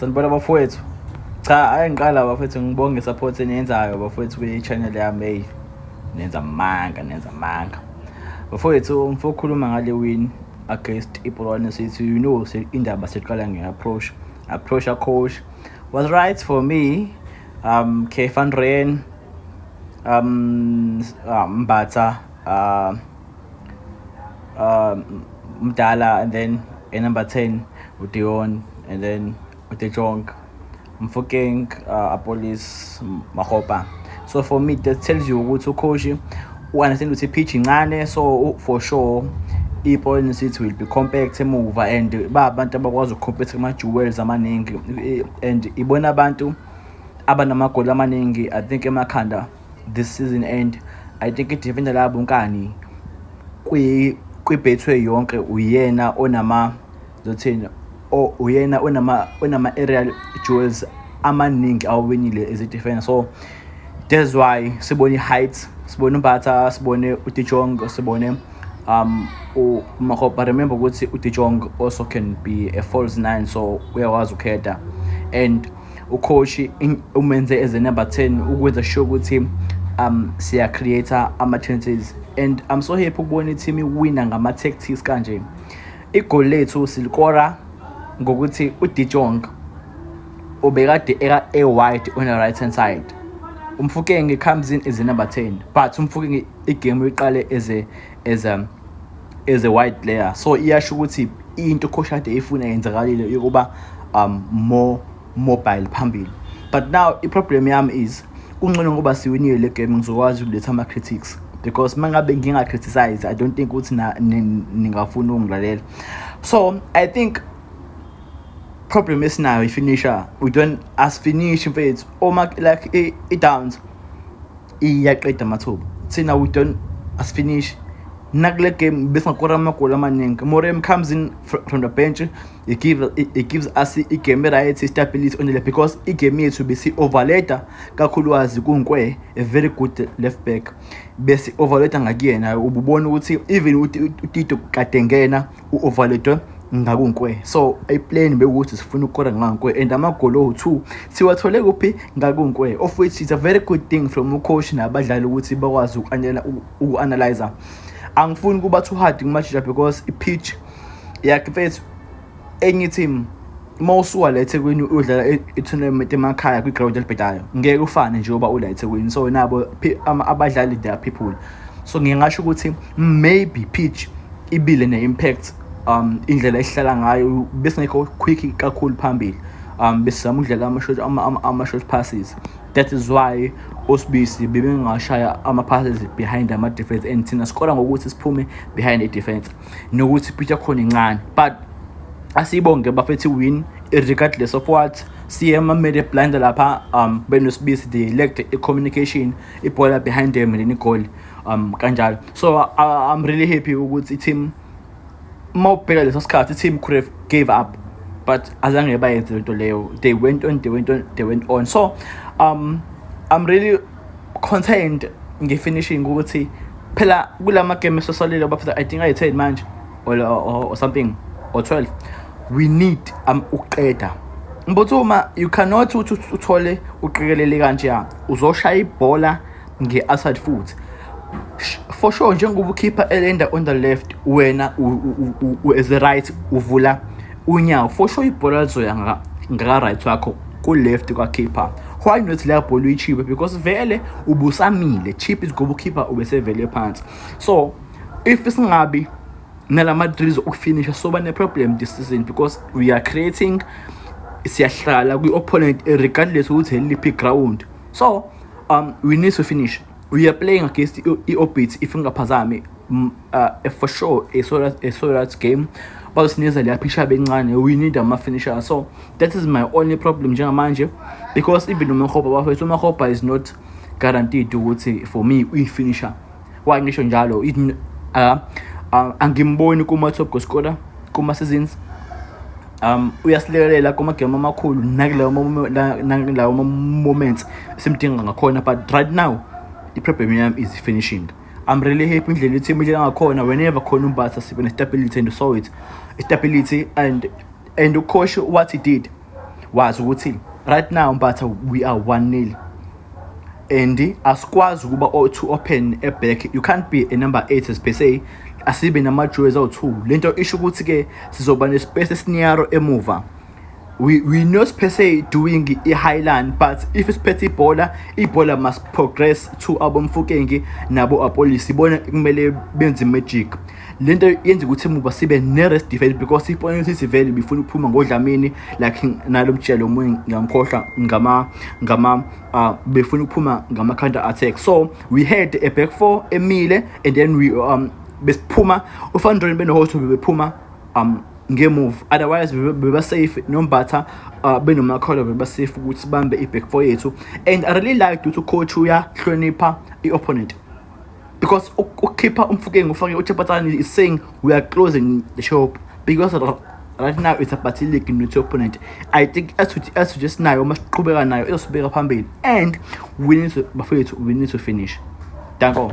sanibona bafowethu cha ayi ngiqala bafowethu ngibonge support eniyenzayo bafowethu kwi-channel yami eyi nenza manga nenza manga bafowethu mfo ukhuluma ngale win against ipolwane sithi you know indaba siqala nge-approach approach acoach was right for me um kefan rain um ah, mbatha um um mdala and then a number 10 udeon and then udejong mfokeng uh, apolis mahopa so for me that tells you ukuthi ukhoshi u-understand ukuthi ipitch incane so for sure i-Boyne City will be compact emuva and ba abantu abakwazi ukucompete kuma-jewels amaningi and ibona abantu abanamagoli amaningi i think emakhanda this season and i think idefenda labo nkani kwibethwe yonke uyena onama zothini uyena onama onama-aerial jewels amaningi awawinile as idefenda so that's why sibone i-heights sibone umbatha sibone udijong sibone um umahopa remember ukuthi udijong also can be a false nine so uyakwazi ukhetha and ukhoshi umenze as a number 10 ukwenza sure ukuthi um siya create ama chances and i'm so happy ukubona i-team iwina ngama tactics kanje igoli lethu silikora ngokuthi uDijong ubekade eka a wide on the right hand side umfukenge comes in as a number 10 but umfukenge igame uyiqale as a as a as a white player so iyasho ukuthi into khoshade ifuna yenzakalile yokuba um more mobile phambili but now iproblem yami is kuncono ngoba siwinile le game ngizokwazi ukuletha ama-critics because uma ngabe nginga-criticize i don't think ukuthi ningafuni ukungilalela so i think problem esinayo ifinisher we don't asifinishi mfethu uma like i-downs iyaqeda amathuba thina we don't asifinishi nakule game besingakora amagoli amaningi morem comes in from the bench he, give, he, he gives us igame eright istability onele because igame yethu besi-overleta kakhulukazi kunkwe a very good left back besi-overleta ngakuyena ububona ukuthi even utito kade ngena u-overloadwe ngakunkwe so iplane bekuthi sifuna ukukora ngakunkwe and amagoli owu-two siwathole kuphi ngakunkwe of which is a very good thing from ucoach nabadlali ukuthi bakwazi uku-analyza angifuni ukuba too hard kumajija because i-pitch yakhe mfethu enye i-team uma usuka la ethekwini udlala itournament emakhaya kwiground elibhedayo ngeke ufane njengoba ula ethekwini so nabo abadlali they are people so ngiye ngasho ukuthi maybe pitch ibile ne-impact um indlela esihlala ngayo besingekho quick kakhulu phambili um besizama ukudlala ama-short ama-short passes that is why osibisi bebengashaya ama-passes behind ama-defense and thina sikora ngokuthi siphume behind i-defense nokuthi pitch yakhona incane but asiyibonge bafethi win regardless of what CM amele blinder lapha um benosibisi the elect communication ibhola behind them leni goal um kanjalo so uh, I'm really happy ukuthi team uma ubheka leso sikhathi i-team could have gave up but azange bayenze lento leyo they went on they went on they went on so um i'm really concerned nge-finishing ukuthi phela kula magame esosalile abafisa i think ayi-10 manje or, or, or something or 12 we need um, ukuqeda mbuthuma you cannot uthi uthole uqikelele kanjeya uzoshaya ibhola nge-aside futhi for sure njengoba ukhipha elenda on the left wena as a right uvula unyawo for sure ibhola lizoya ngaka-right wakho ku-left kwakhipha why not leya bhola uyichipe because vele ubusamile chip is ngoba ukhipha ubesevele phansi so if singabi nala madrills okufinisha soba ne-problem this season because we are creating siyahlala kwi-opponent regardless ukuthi eliphi ground so um we need to finish We are playing against i-Orbit if ngingaphazami mm, uh, for sure a solar, a solar game bazosinikeza leya picture bencane we need ama-finisher so that is my only problem njengamanje because even umahoba bafethu umahoba is not guaranteed ukuthi for me uyi-finisher why ngisho njalo uh, uh, angimboni kuma-top goal scorer kuma-seasons um uyasilekelela kumagemu amakhulu nakilawo moments simdinga ngakhona but right now i-problem yami is finishing I'm really happy indlela i-team idlela ngakhona whenever khona umbasa sibe ne-stability and saw it stability and and ukhoshe what he did wazi ukuthi right now mbatha we are one nil and asikwazi ukuba o-two open eback you can't be a number eight as per se asibe nama-joes awu-two le nto isho ukuthi-ke sizoba ne-space esiniaro emuva we, we not per se doing i-highland but if siphethe ibhola ibhola must progress to abomfukengi nabo apolisi bona kumele benze magic le nto yenza ukuthi muba sibe ne-rest defense because ibona ukuthi sivele bifuna ukuphuma ngodlamini like nalo mtshelo omunye ngiyamkhohlwa ngama ngama uh, befuna ukuphuma ngama-counter attack so we had a back four emile and then we um besiphuma ufandroni benohoto bebephuma um ngemove otherwise bebasafe nombatha uh, benomakholwa bebasafe ukuthi bambe i-back four yethu and i really liked ukuthi ucoach uyahlonipha i-opponent because ukhipha umfukeng ufake uchapatsani is saying we are closing the shop because right now it's about league not your opponent i think asuthi asuthi esinayo uma siqhubeka nayo izosibeka phambili and we need to bafethu we need to finish danko